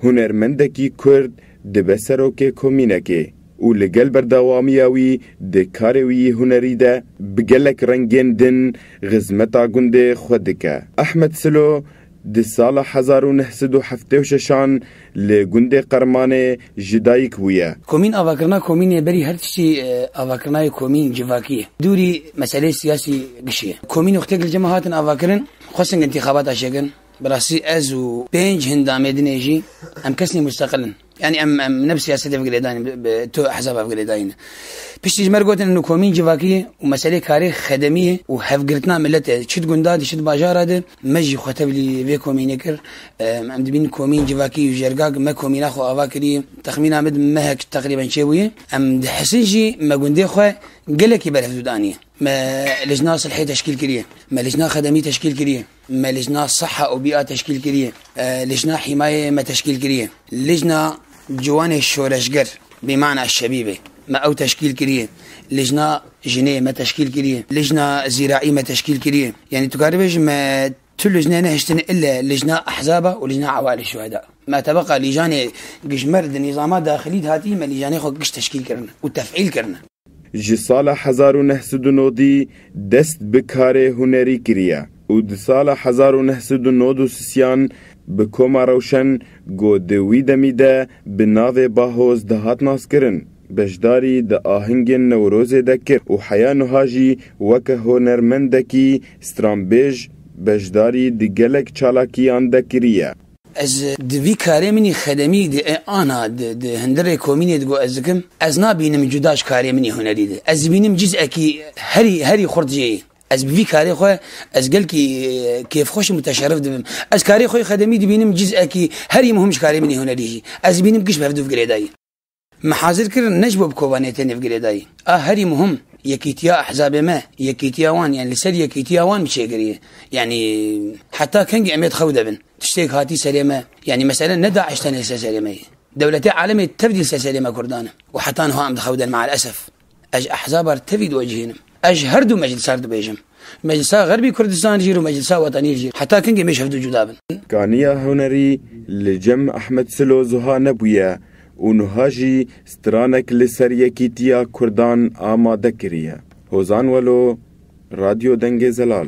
Hunermendekî Kurd dibe serokê komînekê û li gel berdewamiya wî di karê wî yî hunerî de bi gelek rengên din xizmeta gundê xwe dike. Ahmet Silo di sala hezar û neh sed û heftê û şeş an li gundê Qermanê ji dayik bûye. Komîn avakirina komînê berî her tiştî avakirinayê komîn civakî ye. Dûrî meseleyê siyasî gişî ye. Komînê xwe têk li cem hatin avakirin, xwestin intîxabat aşêkin. Bi rastî ez û pênc hin damê din ê jî em kesên musteqil in. Yanî em em ne bi siyasetê ve girêdayîn in, bi tu hesaba ve girêdayîn in. Piştî ji me re gotin û komîn civakî ye û meselê karê xedemî ye û hevgirtina milet e. Çi di gunda de, çi di bajara de me jî xwe tevlî vê komînê kir. Em dibînin komîn civakî û jergak me komîna xwe ava kiriye. Texmîna min di mehek teqrîben çêbûye. Em di Hesin jî me gundê xwe gelekî berhevdût aniye. Me lijna silhê teşkîl kiriye. Me lijna xedemî teşkîl kiriye. Me Lijna Siha û Bîa teşkîl kiriye. Lijna Hîmayeyê me teşkîl kiriye. Lijna Ciwanê Şoreşger bi mana Şebîbê me ew teşkîl kiriye. Lijna Jinê me teşkîl kiriye. Lijna Zîraî me teşkîl kiriye. Yanî tu karî bêjî me tu lijneyê nehiştine île Lijna Ehzaba û Lijna Ewalê Şuheda. Me tebeqa lîjanê gijmer di nîzama daxilî de hatî me lîjanê xwe giş teşkîl kirine û tefîl kirine. Ji sala hezar û neh sed û nodî dest bi karê hunerî kiriye û di sala hezar û neh sed û nod û sisiyan bi Koma Rewşen ku di wî demî de bi navê Bahoz dihat naskirin, beşdarî di ahingên Newrozê de kir û heya nuha jî weke honermendekî stranbêj beşdarî di gelek çalakiyan de kiriye. Ez di vî karê min î xedemî di ê ana di di hindirê komînê di got ez dikim, ez nabînim cuda ji karê min î hunerî di. Ez dibînim cîz ekî herî herî xurt jê yî. Ez bi vî karê xwe ez gelkî kêfxweş im û teşerif dibim. Ez karê xwe î xedemî dibînim cîz ekî herî muhim ji karê min î hunerî jî. Ez dibînim giş bi hevdûv girêdayî. Me hazir kir ne ji bo bi kovaniyê tenê bi girêdayî. A herî muhim yekîtiya ehzabê me, yekîtiya wan yanî li ser yekîtiya wan bi çêkirî. Yanî heta kengî em ê di xew de bin. Tiştêk hatî serê me. Yanî mesele ne DAIŞ tenê li ser serê me ye. Dewletê alemê tevdî li ser serê me Kurdan e. Û heta niha em di xew de ne maelesef. Ez ehzaba li tevî diwecihînim. Ez ji herdu meclisa re dibêjim. Ji Meclisa Xerbî Kurdistan jî û Meclisa Wetanî jî. Heta kengê mêj hevdu cuda bin. Kaniya hunerî li cem Ehmed Silo zuha nebûye û nuha jî stranek li ser yekîtiya kurdan amade kiriye. Hozan Welo, Radyo Dengê Zelal.